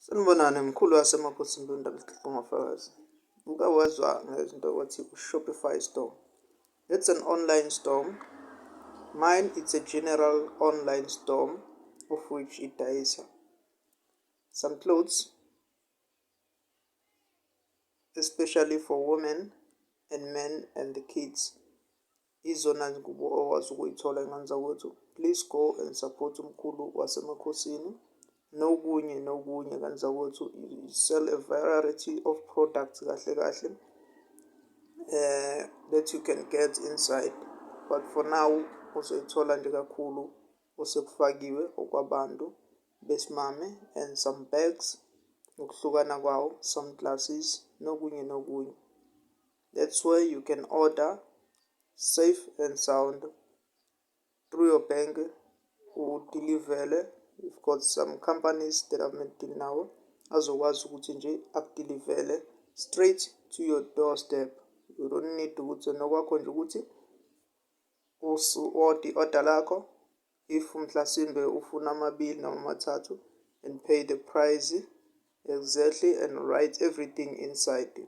Sanibonani, mkhulu waseMaphosini lo Ndaba Sixilonga Fakazi. Uke wezwa ngezinto okwathi u-Shopify store. It's an online store. Mine it's a general online store of which idayisa some clothes especially for women and men and the kids. Izona zingubo okwazi ukuyithola engenza ukuthi please go and support umkhulu wasemakhosini nokunye nokunye kwenza ukuthi sell a variety of products kahle kahle uh, that you can get inside but for now uzoyithola nje kakhulu osekufakiwe okwabantu besimame and some bags ngokuhlukana kwawo some glasses nokunye nokunye That's where you can order safe and sound through your bank udilivele you've got some companies that I've been dealing nawo azokwazi ukuthi nje akudilivele straight to your doorstep you don't need ukuthi nokwakho nje ukuthi usu-ode i-order lakho if mhlasimbe ufuna amabili noma amathathu and pay the price exactly and write everything inside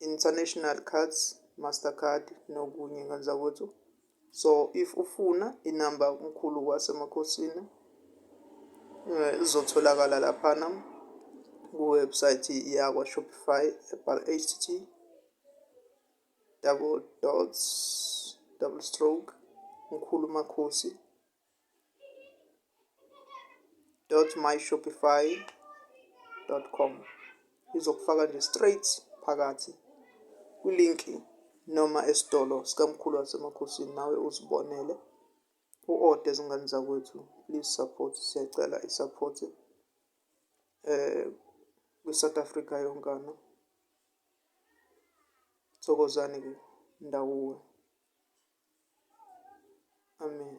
international cards mastercard nokunye nganzakwethu so if ufuna inamba umkhulu wasemakhosini eh, izotholakala laphana kuwebsite yakwa shopify ebhala htt double dots double stroke mkhulu makhosi www.myshopify.com izokufaka nje straight phakathi kwilinki noma esitolo sikamkhulu wasemakhosini nawe uzibonele u-ode ezingane zakwethu please support siyacela i-support eh kwi-south africa yonkana thokozani-ke ndawuwe Amen.